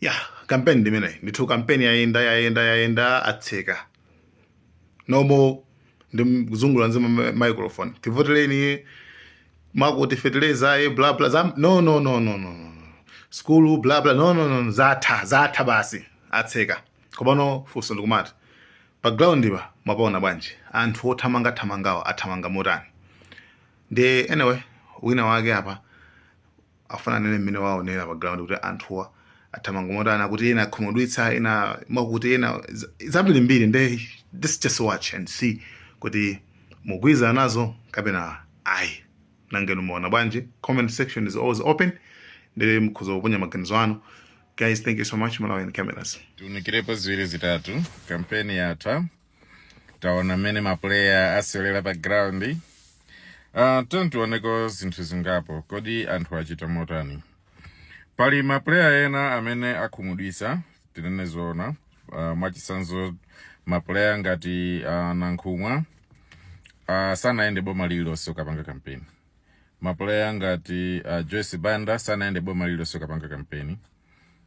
ya kampeni ndi imeneyo ndithu kampeni yayenda yayenda yayenda atseka no more ndi kuzungulira azima ma- microphone tivoteleni mwakuti feteleza aye bla bla za no no no no no no. skulu bla bla no no no zatha zatha basi atseka komano funso ndikumati pa ground apa mwapaona bwanji anthu othamanga thamangawa athamanga motani ndi anyway wina wake apa afuna anene mmene waonera pa ground kuti anthuwa athamanga motani kuti ena akhumudwitsa ena mwakuti ena za- zambirimbiri nde this just watch and see kuti mugwirizana nazo kapena ayi nangenu muona bwanji comment section is always open ndiye mukhoza kuponya maganizo anu guys thank you so much malawian cameras tiunikirepo ziwiri zitatu kampeni yatha taona mmene mapuleya asewelera pa ground uh, tatiyeni tioneko zinthu zingapo kodi anthu achita motani pali mapuleya ena amene akhumudwisa tinene zoona uh, mwachisanzo mapuleya ngati uh, nankhumwa uh, sanayende boma lililonse kukapanga kampeni mapuleya ngati uh, joyce banda sanayende boma lililonse kukapanga kampeni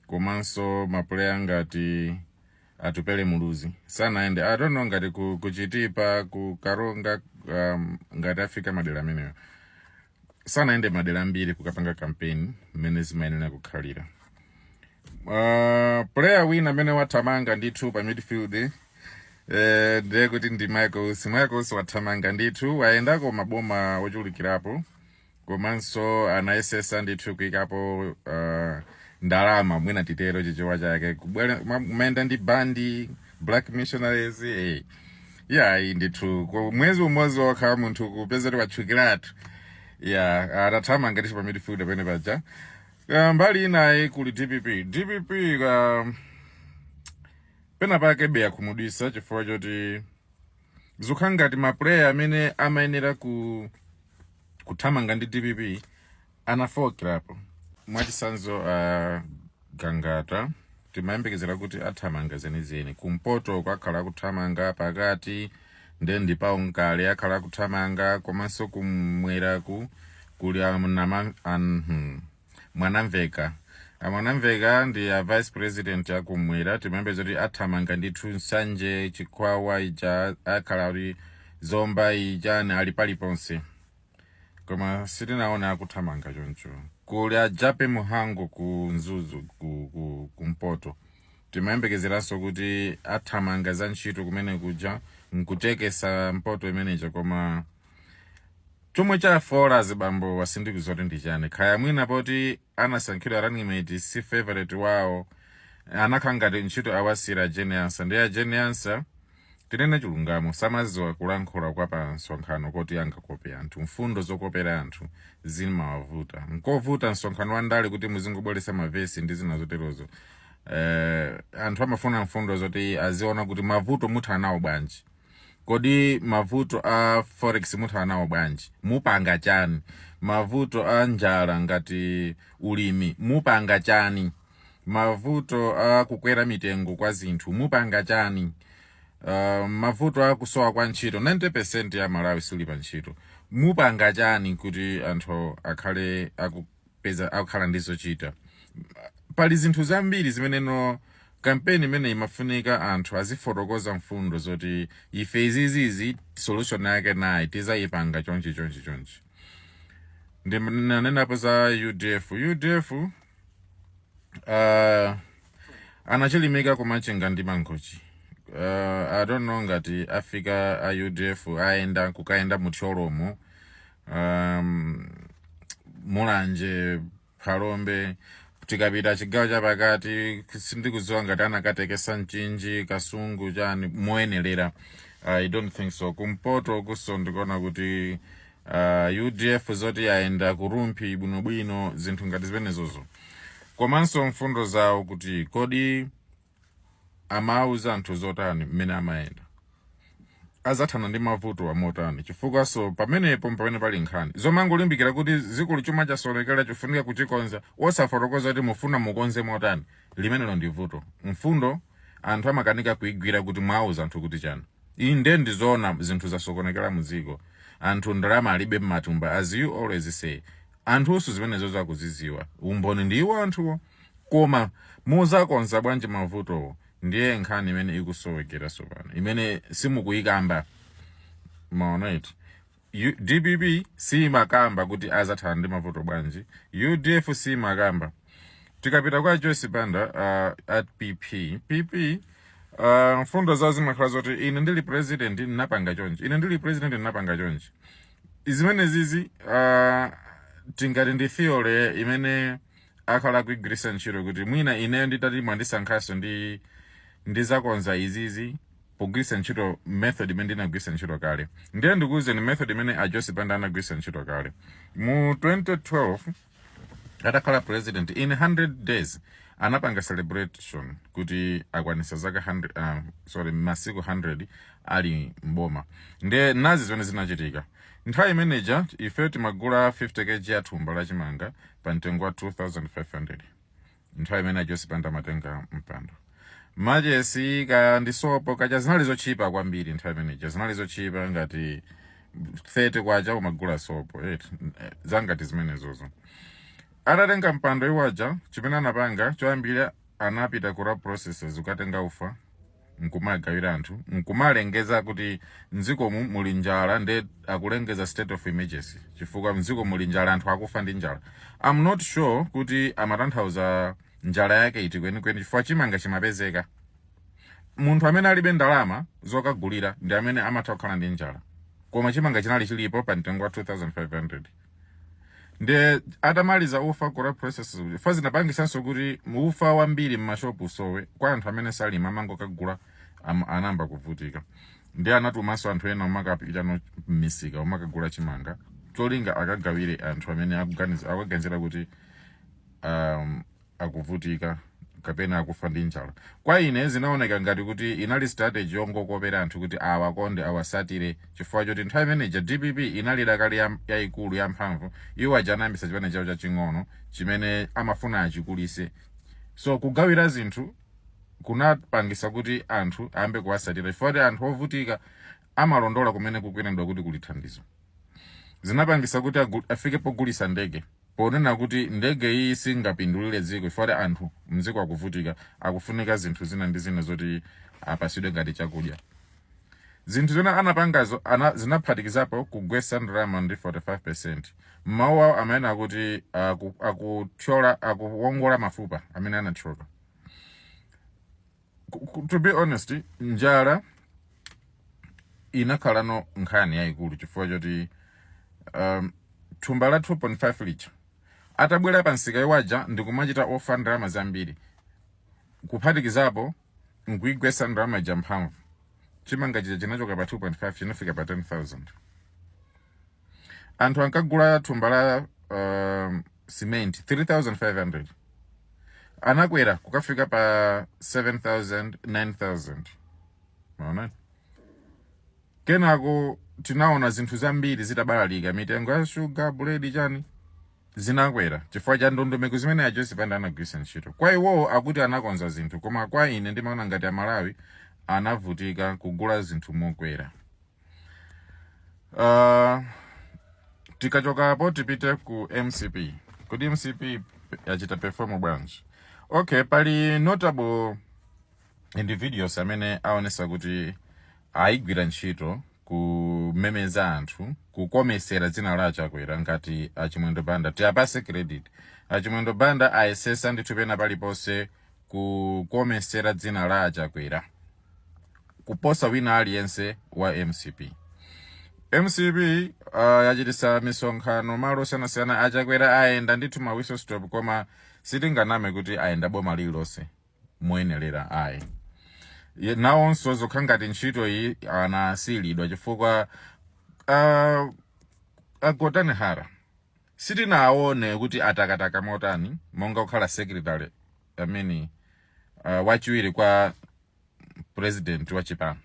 komanso mapuleya ngati atupele muluzi sanayende i don't know ngati ku, ku chitipa ku karonga um, ngati afika madera amenewo sanayende madera ambiri kukapanga kampeni mmene zimayenera kukhalira uh, player wina amene wathamanga ndithu pa midfield eh, ndiye kuti ndi michael usi michael usi wathamanga ndithu wayendako maboma ochulukirapo komanso anayesesa ndithu kuikapo uh, ndalama mwina titero chichewa chake kubwera ma- kumayenda ndi bandi black missionaries eh. yayi ndithu ku mwezi umodzi wokha munthu kupeza kuti watchukiratu ya atathamanga ndithu pa midfield pamene paja Ah, mbali inayo kuli dpp dpp ah, pena pake be yakhumudwisa chifukwa choti zukhala ngati ma player amene amayenera ku kuthamanga ndi dpp anafokerapo mwachitsanzo uh, gangata timayembekezera kuti athamanga zenizeni kumpotoko akhala akuthamanga pakati nde ndi pawo nkale akhala akuthamanga komanso kumweraku kuli anama anhu Mwanamveka. A Mwanamveka ndi a vice president a kumwera timayembekezera kuti athamanga ndithu Nsanje, Chikwawa ija akhala ali Zomba ijani ali paliponse. Koma sitinaona akuthamanga choncho. Kuli a Jape Muhango ku Mzuzu ku, ku, ku Mpoto. Timayembekezeranso kuti athamanga za ntchito kumene kuja nkutekesesa mpoto imene ija koma Chomwe chafoola azibambowa sindikudziwa kuti ndi chani, kaya mwina poti anasankhidwa running mate si favourite wawo anakhala ngati ntchito awasiyira a Jane Ansah, ndiye a Jane Ansah tinene chilungamo samadziwa kulankhula kwa pa msonkhano koti angakope anthu, mfundo zokopera anthu zimawavuta, nkovuta msonkhano wa ndale kuti muzingobweretsa ma verse ndi zina zoterozo, eeh anthu amafuna mfundo zoti aziona kuti mavuto muthana nawo bwanji. kodi mavuto a forex muthana nawo bwanji mupanga chani mavuto a njala ngati ulimi mupanga chani mavuto a kukwera mitengo kwa zinthu mupanga chani uh, mavuto a kusowa kwa ntchito 90 percent ya amalawi sali pa ntchito mupanga chani kuti anthu akhale aku, peza akukhala ndi zochita pali zinthu zambiri zimene mu kampeni imene imafunika anthu azifotokoza mfundo zoti ife izizizi solution yake nayi tizayipanga chonchi chonchi chonchi ndinanenapo za udf udf uh, anachilimika kumachinga ndi mangochi uh, i don't know ngati afika a udf ayenda kukayenda mu thyolomo um, mulanje phalombe tikapita chigawo chapakati sindikudziwa ngati anakatekesa mchinji kasungu chani moyenelera i don't think so kumpoto kunso ndikuona kuti uh, udf zoti ayenda kurumphi bwinobwino zinthu ngati zimenezozo komanso mfundo zawo kuti kodi amauza anthu zotani mmene amayenda azathana ndi mavuto wa motani chifukwa so pamenepo mpamene pali nkhani zomangolimbikira kuti akulu chuma chasokonekera chifunika kuchikonza osafotokoza kuti mufuna mukonze motani limenelo ndi vuto mfundo anthu amakanika kuigwira kuti mwauza anthu kuti chani inde ndizoona zinthu zasokonekera mu dziko anthu ndalama alibe mmatumba as you always say Anthuso zimenezozo akuzidziwa. Umboni ndi iwo anthuwo. Koma mudzakonza bwanji mavutowo ndiye nkhani imene ikusowekera tsopano, imene simukuikamba. Mwaona eti? U, dpp siimakamba kuti adzathana ndi mavuto bwanji. Udf siimakamba. Tikapita kwa Joyce Banda uh, at PP, PP uh, mfundo zawo zimakhala zoti ine ndili president ndinapanga chonchi, ine ndili president ndinapanga chonchi. zimenezizi uh, tingati ndi theory imene akhala akuigwiritsa ntchito kuti mwina ineyo nditati mwandisankhanso ndizakonza izizi pogwiritsa ntchito method imene ndinagwiritsa ntchito kale ndiye ndikuwuzeni method imene a Joyce Banda anagwiritsa ntchito kale mu 2012 atakhala president in 100 days anapanga celebration kuti akwanisa zaka uh, sorry masiku 100 ali mboma nde nazi zimene zinachitika nthawi imeneja ife timagula 50 kg ya thumba la chimanga pa mtengo wa 2500 nthawi imene a Joyce Banda amatenga mpando machesi kaya ndi sopo kaja zinali zotchipa kwambiri nthawi imeneja zinali zotchipa ngati 30 kwacha umagula sopo eti eh, zangati zimenezozo atatenga mpando iwaja chimene anapanga choyambira anapita ku Rab Processors ukatenga ufa nkumagawira anthu nkumalengeza kuti mdzikomu muli njala nde akulengeza state of emergency chifukwa mdziko muli njala anthu akufa ndi njala am not sure kuti amatanthauza njala yake iti kwenikweni chifukwa chimanga chimapezeka munthu amene alibe ndalama zokagulira ndi amene amatha kukhala ndi njala koma chimanga chinali chilipo pa mtengo wa 2500 nde atamaliza ufa ku Rab Processors kuja ufa zinapangisanso kuti ufa wambiri mmashopu usowe kwa anthu amene salima amangokagula am, anayamba kuvutika nde anatumanso anthu ena omakapitano mmisika omakagula chimanga cholinga akagawire anthu amene akuganiza- akuganizira kuti um, akuvutika kapena akufa ndi njala kwa ine zinaoneka ngati kuti inali strategy yongokopera anthu kuti awakonde awasatire chifukwa choti nthawi imeneja dpp inali dakali ya- yayikulu yamphamvu iwo aja anayambisa chipani chawo chaching'ono chimene amafuna achikulise so kugawira zinthu kunapangisa kuti anthu ayambe kuwasatira chifukwa kuti anthu ovutika amalondola kumene kukunenedwa kuti kuli thandizo zinapangisa kuti agu- afike pogulisa ndege ponena kuti ndege iyiyi singapindulire dziko chifukwa kuti anthu mdziko akuvutika, akufunika zinthu zina ndi zina zoti apasidwe ngati chakudya. Zinthu zimene anapangazo ana, zinaphatikizapo kugwetsa ndalama ndi 45%. M'mawu awo amanena kuti aku, akuthyola akuwongola mafupa amene anathyoka. to be honest njala inakhalano nkhani yayikulu chifukwa choti um, thumba la 2.5 lija atabwera pa nsika iwaja ndikumachita offer ndalama zambiri kuphatikizapo nkuigwesa ndalama ija mphamvu chimanga chija chinachoka pa 2.5 chinafika pa 10000 anthu ankagula thumba la uh, cement 3500 anakwera kukafika pa 7000 9000 mmaona kenako tinaona zinthu zambiri zitabalalika mitengo ya shuga buledi chani zinakwera chifukwa cha ndondomeko zimene a Joyce Banda anagwiritsa ntchito kwa iwowo akuti anakonza zinthu koma kwa ine ndimaona ngati amalawi anavutika kugula zinthu mokwera Uh, tikachokapo tipite ku mcp kodi mcp yachita perform bwanji okay pali notable individuals amene aonesa kuti ayigwira ntchito kumemeza anthu kukomesera dzina la achakwera ngati achimwendo banda tiyapase credit achimwendo banda ayesesa ndithu pena paliponse kukomesera dzina la achakwera kuposa wina aliyense wa mcp mcp uh, yachitisa misonkhano malo osiyanasiyana achakwera ayenda ndithu ma whistle stop koma sitinganame kuti ayenda boma lililonse moyenelera ayi Ye- nawonso zokhala ngati ntchito iyi anasiyilidwa chifukwa uh, agotani hara sitinaone kuti atakataka motani monga kukhala secretary amene uh, wachiwiri kwa president wa chipani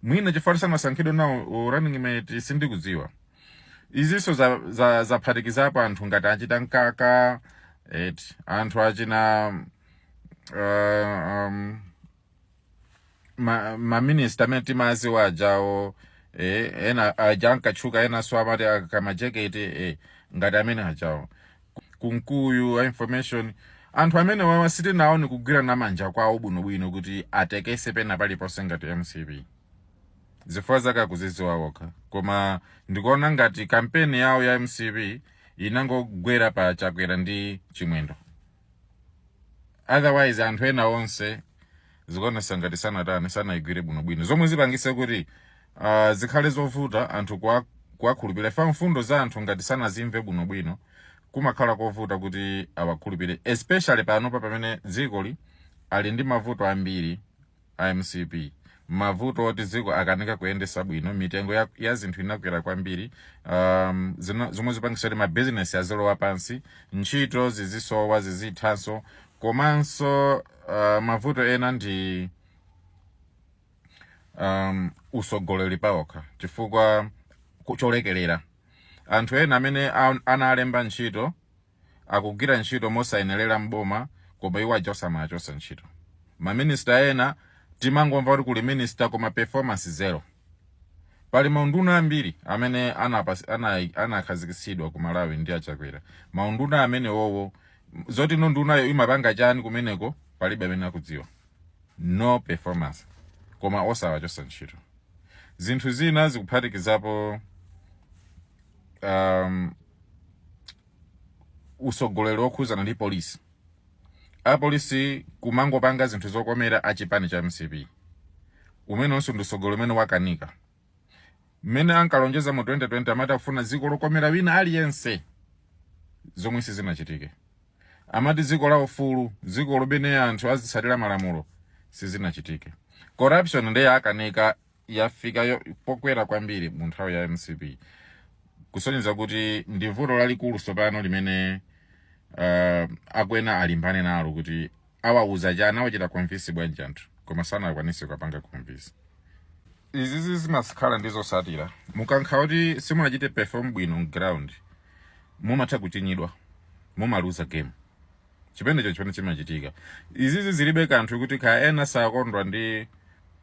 mwina chifukwa sanasankhidwe nawo running mate sindikudziwa izinso zaphatikizapo za, za anthu ngati achina mkaka eh anthu achina uh, um, ma, ma minister amene timaziwa ajawo eh, ena aja ankatchuka enanso amati akamajeketi eh, ngati amene ajawo kunkuyu a information anthu amenewawa sitinaone kugwirana manja kwawo bwinobwino kuti atekese pena paliponse ngati mcp zifukwa zake akuzidziwa wokha koma ndikuona ngati kampeni yawo ya mcp inangogwera pa chakwera ndi chimwendo otherwise anthu ena onse zikuonesa ngati sanatani sanaigwire bwinobwino zomwe zipangise kuti uh, zikhale zovuta anthu kuwa- kuwakhulupirira chifukwa mfundo za anthu ngati sanazimve bwinobwino kumakhala kovuta kuti awakhulupirire especially panopa pamene dzikoli ali ndi mavuto ambiri a mcp mavuto oti dziko akanika kuyendesa bwino mitengo ya, ya zinthu inakwera kwambiri um, zino- zomwe zipangisa kuti mabizinesi azilowa pansi ntchito zizisowa zizithanso komanso uh, mavuto ena ndi um, usogoleri paokha chifukwa ku- cholekelera anthu ena amene a- analemba ntchito akugwira ntchito mosayenelera m'boma koma iwo aja osamawachotsa ntchito. Ma minister ena timangomva kuti kuli minister koma performance zero. Pali maunduna ambiri amene anapas- ana- anakhazikitsidwa ku Malawi ndi achakwera. Maunduna amenewowo m- zoti no ndunayo imapanga chani kumeneko palibe amene akudziwa. No performance koma osawachotsa ntchito. Zinthu zina zikuphatikizapo um, usogoleri wokhuzana ndi polisi apolisi kumangopanga zinthu zokomera achipani cha mcp umenenso ndi usogoleri umene wakanika mmene ankalonjeza mu 2020 amati akufuna dziko lokomera wina aliyense zomwe sizinachitike amati dziko la ufulu dziko lomwe anthu azitsatira malamulo sizinachitike corruption ndiye akanika yafika yo- pokwera kwambiri mu nthawi ya mcp kusonyeza kuti ndi vuto lalikulu tsopano limene uh, akwena alimbane nalo kuti awauza chani awachita convince bwanji anthu koma sanakwanise kupanga convince izizi zimakhala ndi zosatira mukakhala kuti simunachite perform bwino mground mumatha kuchinyidwa mumaluza game chipendecho chimene chimachitika izizi zilibe kanthu kuti kaya ena sakondwa ndi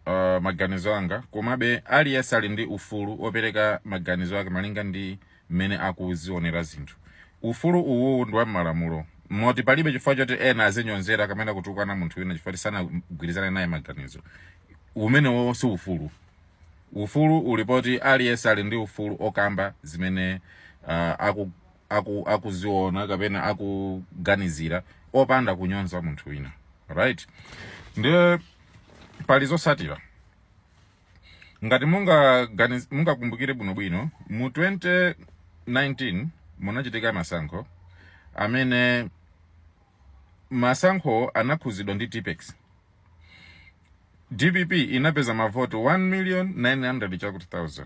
uh, maganizo anga komabe aliyense ali ndi ufulu wopereka maganizo ake malinga ndi mmene akuzionera zinthu ufulu uwu ndi wa m'malamulo moti palibe chifukwa choti ena azinyozera kapena kutukwana munthu wina chifukwa sanagwirizane naye maganizo umenewo si ufulu ufulu uli poti aliyense ali ndi ufulu okamba zimene uh, aku, akuziona kapena akuganizira opanda kunyoza munthu wina right ndiye pali zosatira ngati mungakumbukire bwinobwino mu 2019 munachitika masankho amene masankho anakhuzidwa ndi tipex dpp inapeza mavoti 1 million 900 chakuti 1000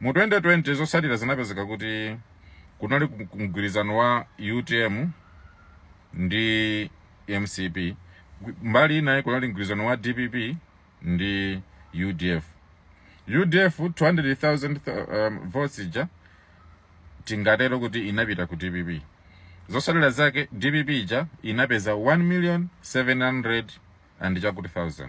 Mu 2020 zotsatira zinapezeka kuti kunali mgwirizano wa UTM ndi mcp mbali inayi kunali mgwirizano wa dpp ndi udf udf 200000 votes ija tingatero kuti inapita ku dpp zosatira zake dpp ija inapeza 1 million 700 chakuti 1000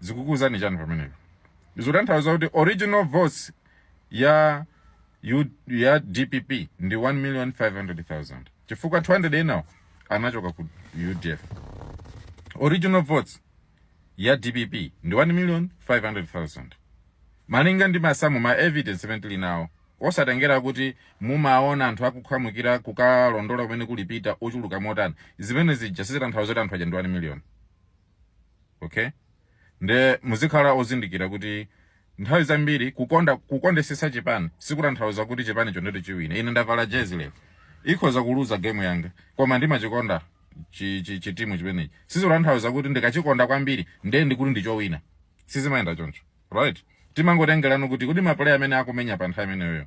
zikukuuzani chani pamenepo zikutanthauza kuti original votes ya dpp ndi 1 million 500,000 chifukwa 200 enawo anachoka ku udf original votes ya dpp ndi 1 million 500,000 malinga ndi masamu ma evidence amene tili nawo osatengera kuti mumaona anthu akukhamukira kukalondola kumene ali Peter ochuluka motani zimene zija sizitanthauza kuti anthu aja ndi 1 million okay nde muzikhala ozindikira kuti nthawi zambiri kukonda kukondesesa chipani sikutanthauza kuti chipani chondecho chiwine ine ndavala jezi lero ikhoza kuluza game yanga koma ndimachikonda chi- chi- chitimu chimenechi sizikutanthauza kuti ndikachikonda kwambiri nde ndikuti ndichowina sizimayenda choncho right timangotengerano kuti kuti mapuleya amene akumenya pa nthawi imeneyoyo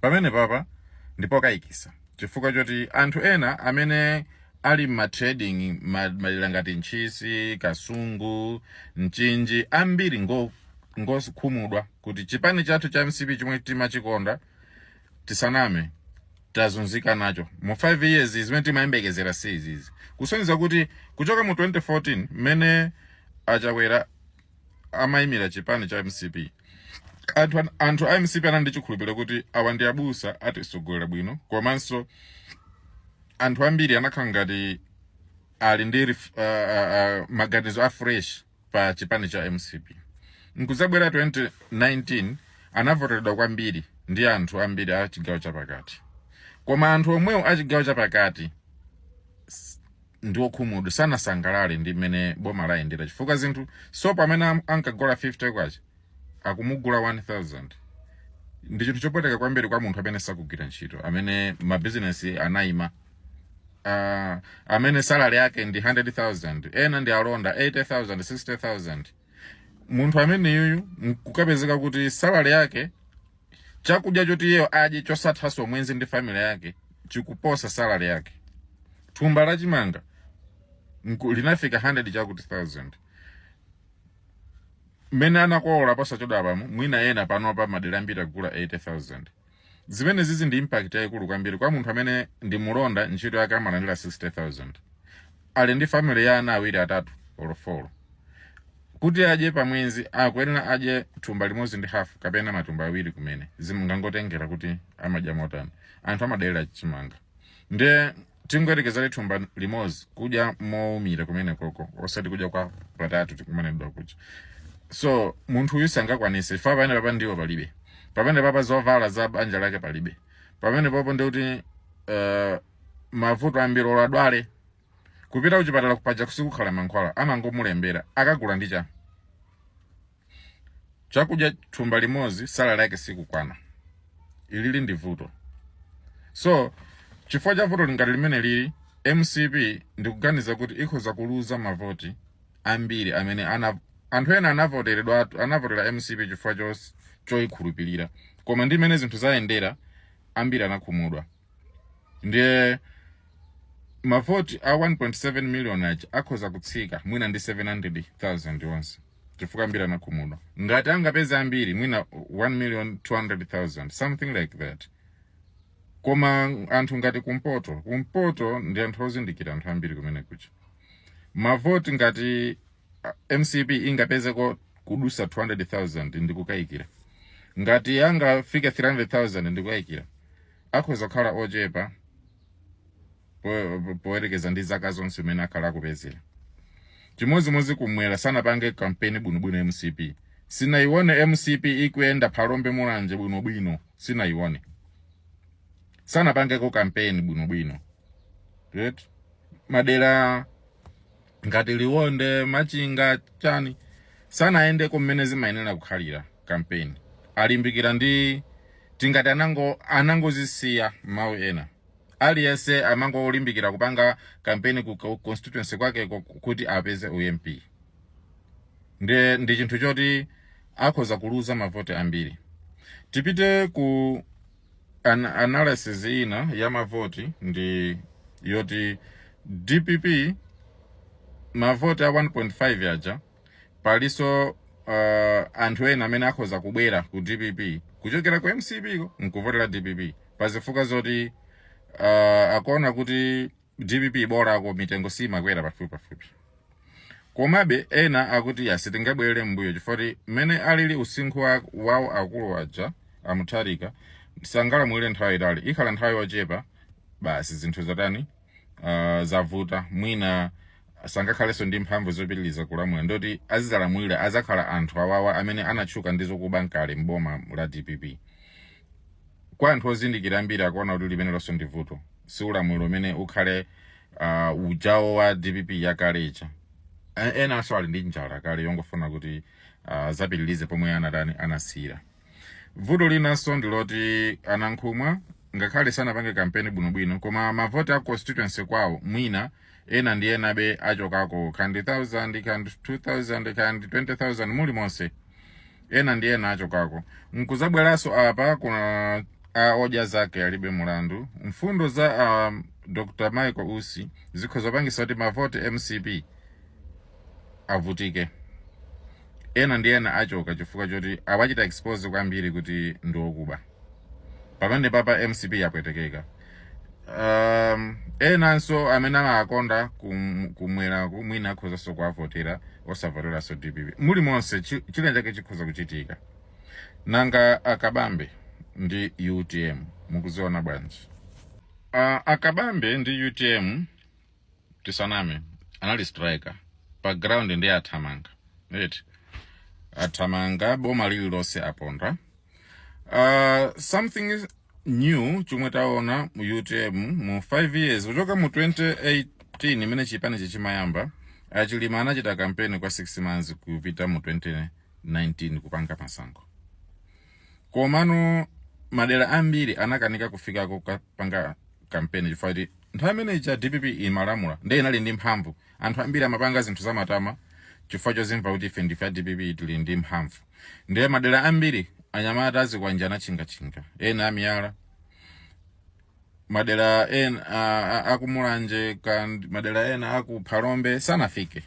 pamene papa ndi pokayikisa chifukwa choti anthu ena amene ali ma trading madera ngati ntchisi kasungu mchinji ambiri ngo ngokhumudwa kuti chipani chathu cha mcp chomwe timachikonda tisaname tazunzika nacho mu 5 years zimene timayembekezera si izizi kusonyeza kuti kuchoka mu 2014 mmene a Chakwera amaimira chipani cha mcp anthu, an- anthu a mcp anali ndi chikhulupiriro kuti awa ndi abusa atisogolera bwino komanso anthu ambiri anakhala ngati ali ndi ref- ah, ah, ah, maganizo a fresh pa chipani cha mcp nkuzabwera 2019 anavoteredwa kwambiri ndi anthu ambiri a chigawo chapakati koma anthu omwewo a chigawo chapakati ndi okhumudwa sanasangalale ndi mmene boma layendera chifukwa zinthu sopo amene am- ankagula 50 kwacha akumugula 1000 ndi chinthu chopweteka kwambiri kwa munthu amene sakugwira ntchito amene mabizinesi anayima uh, amene salary yake ndi 100000 ena ndi alonda 80000 60000 munthu ameneyuyu nkukapezeka kuti salary yake Chakudya choti iyeyo adye chosathanso mwezi ndi family yake chikuposa salary yake. Thumba la chimanga nku- linafika 100 chakuti thousand. Mmene anakolola posachedwapamo mwina ena panopa madera ambiri agula 80,000. Zimenezizi ndi impact yayikulu kwambiri kwa munthu amene ndi mulonda ntchito yake amalandira 60,000. ali ndi family ya ana awiri atatu or four kuti adye pamwezi akuyenera adye thumba limodzi ndi hafu kapena matumba awiri kumene zimangotengera kuti amadya motani anthu amadalira chimanga ndiye tingoyerekezera thumba limodzi kudya mowumira kumenekoko osati kudya kwa patatu tikumanidwa kuja so munthu uyu sangakwanise fa pamene papa ndiwo palibe pamene papa zovala za banja lake palibe pamenepopo ndikuti uh, mavuto ambiri olo adwale kupita kuchipatala kupaja sikukhala mankhwala amangomulembera akagule ndi cha chakudya thumba limodzi salary yake sikukwana ilili ndi vuto so chifukwa cha vuto la ngati limenelili mcp ndikuganiza kuti ikhoza kuluza mavoti ambiri amene ana anthu ena anavoteredwa atu- anavotera mcp chifukwa chos- choyikhulupirira koma ndi mmene zinthu zayendera ambiri anakhumudwa ndiye mavoti a 1.7 million aja akhoza kutsika mwina ndi 700,000 onse chifukwa ambiri anakhumudwa ngati angapeze ambiri mwina 1 million 200,000 something like that koma anthu ngati kumpoto kumpoto ndi anthu ozindikira anthu ambiri kumene kuja mavoti ngati mcp ingapezeko kudusa 200000 ndikukayikira ngati ingafike 300000 ndikukayikira akhoza kukhala ochepa po- po- poyerekeza ndi zaka zonse mmene akhala akupezera chimodzimodzi kumwera sanapange kampeni bwinobwino mcp sindinayione mcp ikuyenda phalombe mulanje bwinobwino sindinayione sanapangeko kampeni bwinobwino right madera ngati liwonde machinga chani sanayendeko mmene zimayenera kukhalira kampeni alimbikira ndi tingati anango anangozisiya mmawu ena aliyense amangolimbikira kupanga kampeni ku ku constituency kwake ku- kuti apeze ump ndi, ndi chinthu choti akhoza kuluza mavoti ambiri tipite ku an analysis ina ya mavoti ndi yoti dpp mavoti a 1.5 yaja paliso uh, anthu ena amene akhoza kubwera ku dpp kuchokera ku mcp ko nkuvotera dpp pazifukwa zoti uh, akuona kuti dpp bolako mitengo simakwera pafupi pafupi komabe ena akuti iya sitingabwerere mbuyo chifukwa mmene alili usinkhu wa- wawo akulu aja amutharika sangalamulire nthawi itaali ikhala nthawi yochepa basi zinthu zatani uh, zavuta mwina sangakhalenso ndi mphamvu zopitiliza kulamula ndoti azidzalamulira adzakhala anthu awawa amene anatchuka ndi zokuba nkale mboma la dpp Kwa anthu ozindikira ambiri akuona kuti limenelonso ndi vuto, si ulamuliro umene ukhale uh, ujawo wa dpp yakale ija. E- Enanso ali ndi njala kale yongofuna kuti uh, adzapitilize pomwe anatani anasiyira. Vuto linanso ndi loti a Nankhumwa ngakhale sanapange kampeni bwinobwino koma mavoti a constituency kwawo mwina ena ndi enabe achokako ka ndi 1000 ka ndi 2000 ka ndi 20000 muli monse ena ndi ena achokako nkuzabweranso apa kunja a odya zake alibe mulandu mfundo za a dr michael usi zikhoza kupangisa kuti mavoti mcp avutike ena ndi ena achoka chifukwa choti awachita expose kwambiri kuti ndi okuba pamene papa mcp yapwetekeka um, enanso amene amakonda kum- kumwera kumwina akhozanso kuwavotera osavoteranso dpp muli monse chi- china chake chikhoza kuchitika nanga akabambe ndi utm mukuziona bwanji uh, akabambe ndi utm tisaname anali striker pa ground ndiye athamanga right athamanga boma lililonse aponda uh, something new chomwe taona mu utm mu 5 years kuchoka mu 2018 imene chipanichi chimayamba achilima anachita kampeni kwa 6 months kupita mu 2019 kupanga masankho komano madera ambiri anakanika kufikako kukapanga kampeni chifukwa kuti nthawi imene cha dpp imalamula ndiye inali ndi mphamvu anthu ambiri amapanga zinthu zamatama chifukwa chozimva kuti ife ndife a dpp tili ndi mphamvu ndiye madera ambiri anyamata azikwanje anatchingatchinga ena amiyala madera ena a- a- akumulanje ka ndi- madera ena akuphalombe sanafike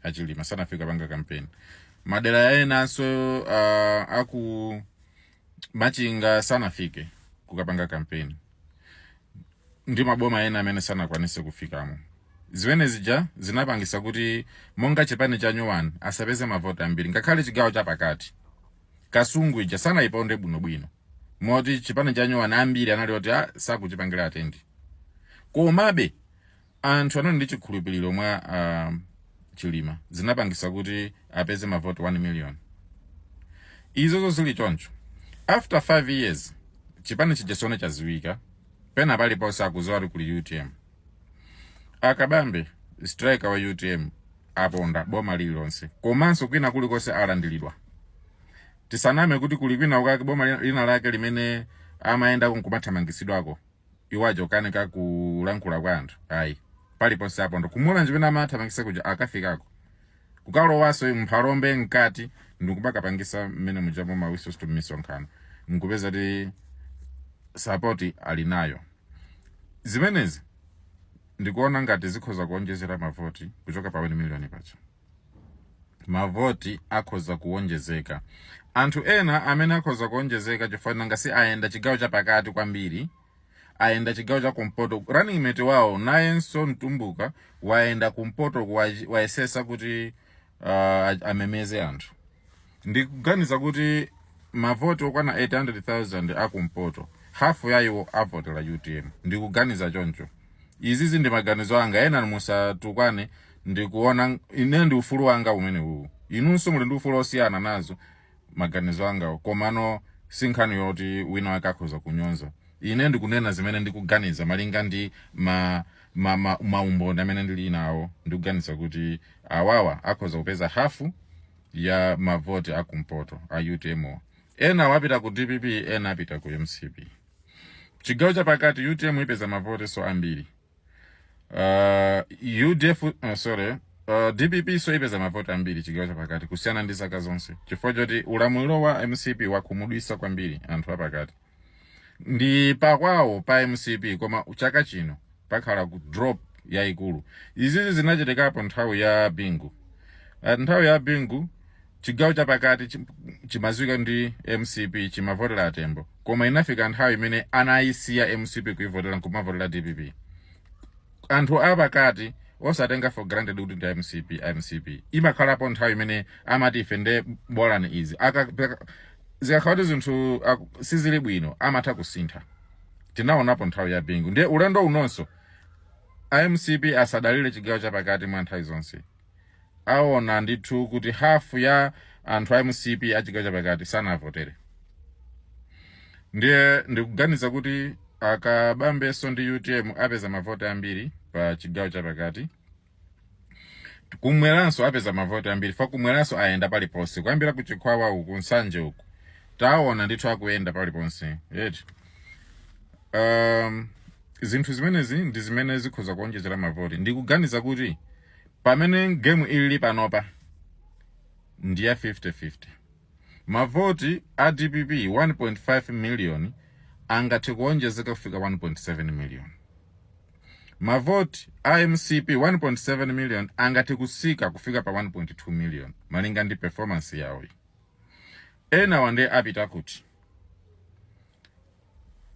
achilima sanafike kupanga kampeni madera enanso ah, aku machinga sanafike kukapanga kampeni ndi maboma ena amene sanakwanise kufikamo zimene zija zinapangisa kuti monga chipani chanyuwani asapeze mavoti ambiri ngakhale chigawo chapakati kasungu ija sanayiponde bwinobwino moti chipani chanyuwani ambiri anali oti ah, sakuchipangira attend komabe anthu anali ndi chikhulupiriro mwa uh, chilima zinapangisa kuti apeze mavoti 1 million izozo zili choncho after 5 years chipani chija tsono chaziwika pena paliponse akuziwa kuti kuli utm akabambe striker wa utm aponda boma lililonse komanso kwina kulikonse alandiridwa Tisaname kuti kuli kwina kwake boma lina- lina lake limene amayendako nkumathamangitsidwako iwo aja kukanika kulankhula kwa anthu ayi paliponse aponda ku mulanje mmene amathamangisa kuja akafikako kukalowaso mphalombe mkati ndikubakapangisa mmene mujamo ma whistle stop misonkhano nkupeza kuti sapoti ali nayo zimenezi ndikuona ngati zikhoza kuonjezera mavoti kuchoka pa 1 miliyoni paja mavoti akhoza kuwonjezeka anthu ena amene akhoza kuwonjezeka chifukwa nanga si ayenda chigawo chapakati kwambiri ayenda chigawo cha kumpoto running mate wawo nayenso mtumbuka wayenda kumpoto kuwa- wayesesa kuti uh, amemeze anthu ndikuganiza kuti mavoti okwana 800,000 akumpoto hafu ya iwo avotera utm ndikuganiza choncho izizi ndi maganizo anga ena musatukwane ndikuona ine ndi ufulu wanga umene uwu inunso muli ndi ufulu osiyana nazo maganizo anga komano si nkhani yoti wina wake akhoza kunyonza ine ndikunena zimene ndikuganiza malinga ndi ma ma, ma, maumboni amene ndili nawo ndikuganiza kuti awawa akhoza kupeza hafu ya mavoti akumpoto a utm wa. enawo apita ku dpp ena apita ku mcp chigawo chapakati utm ipeza mavotinso ambiri uh, udf uh, sorry uh, dppnso ipeza mavoti ambiri chigawo chapakati kusiyana ndi zaka zonse chifukwa choti ulamuliro wa mcp wakhumudwisa kwambiri anthu apakati ndi pakwawo pa mcp koma chaka chino pakhala ku drop yayikulu izizi zinachitikapo nthawi ya bingu Ah, nthawi ya bingu chigawo chapakati chi- chimadziwika ndi mcp chimavotera atembo koma inafika nthawi imene anayisiya mcp kuivotera nkumavotera dpp anthu apakati osatenga for granted kuti ndi mcp mcp imakhalapo nthawi imene amati ife nde bolani izi Aka- peka- zikakhala kuti zinthu aku- sizili bwino amatha kusintha tinaonapo nthawi ya bingu ndiye ulendo unonso a mcp asadalire chigawo chapakati mwa nthawi zonse aona ndithu kuti hafu ya anthu a mcp a chigawo chapakati sanawavotere ndiye ndikuganiza kuti akabambenso ndi utm apeza mavoti ambiri pa chigawo chapakati kumweranso apeza mavoti ambiri fa kumweranso ayenda paliponse kuyambira ku chikhwawa uku nsanje uku taona ndithu akuyenda paliponse yeti um, zinthu zimenezi ndi zimene zikhoza kuonjezera mavoti ndikuganiza kuti pamene game ilili panopa ndi ya 50-50 Mavoti a dpp 1.5 million angathe kuonjezeka kufika 1.7 million. Mavoti a mcp 1.7 million angathe kutsika kufika pa 1.2 million malinga ndi performance yawoyi. Enawo nde apita kuti?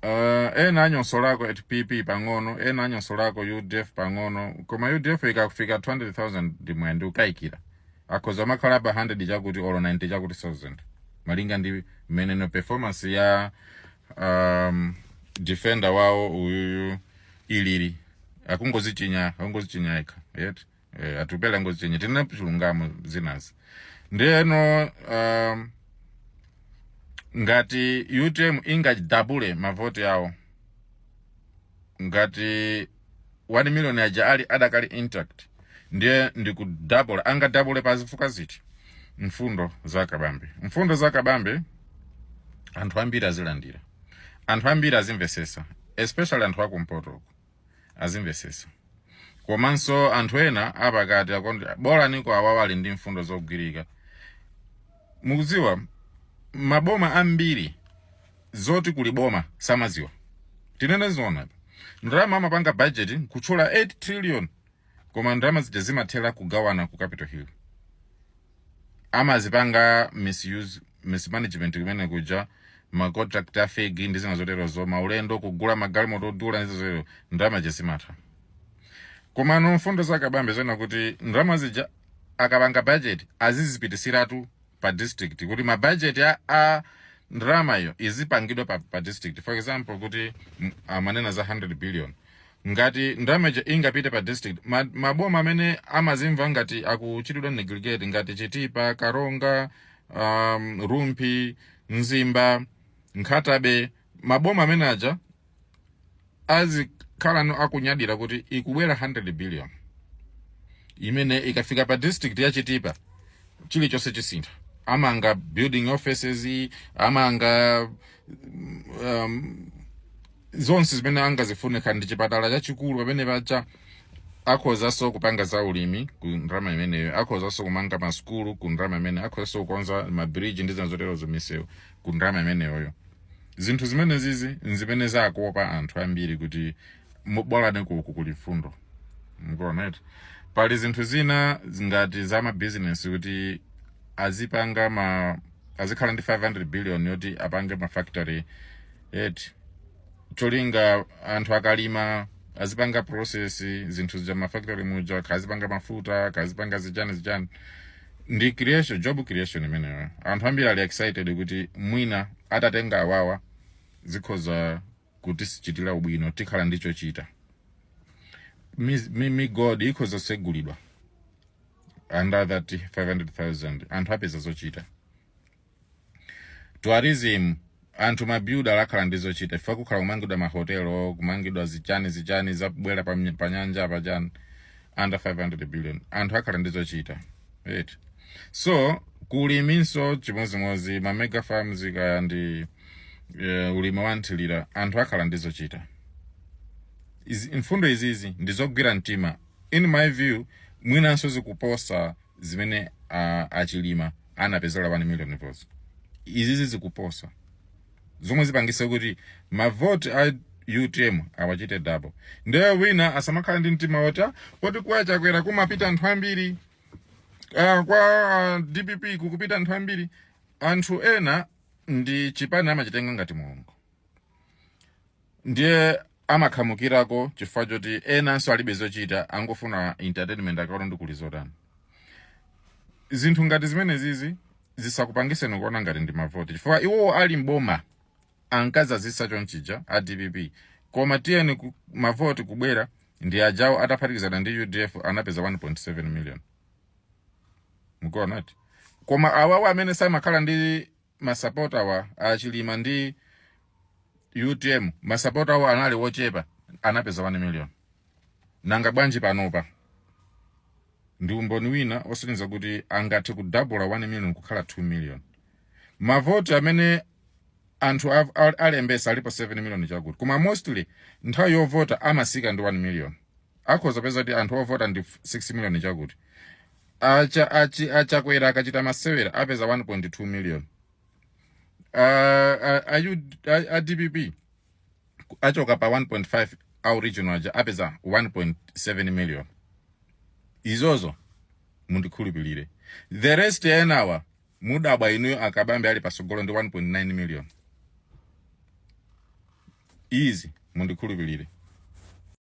Uh, ena anyonsolako a pp pang'ono ena anyonsolako udf pang'ono koma udf ikakufika 200,000 ndimwe ndikukayikira akhoza kumakhala pa 100 chakuti olo 90 chakuti 1000 malinga ndi mmenenso performance ya um, defender wawo uyuyu ilili akungozichinya akungozichinya yekha yet eh, atupele angozichinya tinene chilungamo zinazi ndeno um, ngati utm ingadabule mavoti yawo ngati 1 million aja ali adakali intact ndiye ndikudabula angadabule pa zifukwa ziti mfundo za kabambe mfundo za kabambe anthu ambiri azilandira anthu ambiri azimvesesa especially anthu akumpotoko azimvesesa komanso anthu ena apakati akuti bolaniko awawa ali ndi mfundo zogwirika mukudziwa maboma ambiri zoti kuli boma samaziwa tinene zona ndalama amapanga budget kutchula 8 trillion koma ndalama zija zimathera kugawana ku capital hill amazipanga misuse mismanagement kumene kuja macontract a fake ndi zina zoterozo maulendo kugula magalimoto odula ndi zoterozo ndalama zija zimatha komano mfundo za kabambe zona kuti ndalama zija akapanga budget azizipitisiratu pa district kuti ma budget a, a ndalamayo izipangidwa pa, pa district for example kuti amanena za 100 billion ngati ndalama ija ingapite pa district ma, maboma amene amazimva ngati akuchitidwa neglect ngati chitipa karonga um, rumphi mzimba nkhata bay maboma amene aja azikhalano akunyadira kuti ikubwera 100 billion imene ikafika pa district ya chitipa chilichonse chisintha amanga building offices amanga um, zonse zimene angazifune kaya ndi chipatala chachikulu pamene paja akhozanso kupanga za ulimi ku ndalama imeneyo akhozanso kumanga masukulu ku ndalama imeneyo akhozanso kukonza mabridge ndi zina zoterozo misewu ku ndalama imeneyoyo zinthu zimenezizi nzimene zakopa anthu ambiri kuti bolani kuku kuli mfundo mukuona eti pali zinthu zina ngati za mabizinesi kuti azipanga ma azikhala ndi 500 billion yoti apange mafactory eti cholinga anthu akalima azipanga process zinthu za mafactory muja kaya azipanga mafuta kaya azipanga zichani zichani ndi creation job creation imeneyo anthu ambiri ali excited kuti mwina atatenga awawa zikhoza kutichitira ubwino tikhala ndi chochita Mi- mi- migodi ikhoza kusegulidwa under that 500000 anthu apeza zochita tourism anthu mabuilder akhala ndi zochita chifukwa kukhala kumangidwa mahotelo kumangidwa zichani zichani zabwera pa, pa nyanja apa chani under 500 billion anthu akhala ndi zochita right so kuliminso chimodzimodzi ma mega farms kaya ndi eh, ulimi wa nthilira anthu akhala ndi zochita Izi- mfundo izizi ndizogwira mtima in my view mwinanso zikuposa zimene a, a chilima anapezera 1 million votes izizi zikuposa zomwe zipangisa kuti mavoti a utm awachite double ndiye wina asamakhala ndi mtima woti "Ah, poti kwa chakwera kumapita anthu ambiri Ah, kwa ah, dpp kukupita anthu ambiri anthu ena ndi chipani amachitenga ngati mulungu ndiye amakhamukirako chifukwa choti enanso alibe zochita angofuna entertainment akaona ndi kuli zotani zinthu ngati zimenezizi zisakupangiseni kuona ngati ndi mavoti chifukwa iwo ali mboma ankazazisa chonchija a dpp koma tiyeni ku, mavoti kubwera ndi ajawo ataphatikizana ndi udf anapeza 1.7 million mukuonati koma awawa amene samakhala ndi masapotawa a chilima ndi utm masapotawa anali wochepa anapeza 1 million nanga bwanji panopa ndi umboni wina osonyeza kuti angathe kudabula 1 million kukhala 2 million mavoti amene anthu av- al- alembesa alipo 7 million chakuti koma mostly nthawi yovota amasika ndi 1 million akhoza peza kuti anthu ovota ndi 6 million chakuti acha achi achakwera akachita masewera apeza 1.2 million uh, uh, ayu uh, adpp achoka pa 1.5 aoriginal aja apeza 1.7 million izozo mundikhulupirire the rest enawa mudabwa inuyo akabambe ali pasogolo ndi 1.9 million izi mundikhulupirire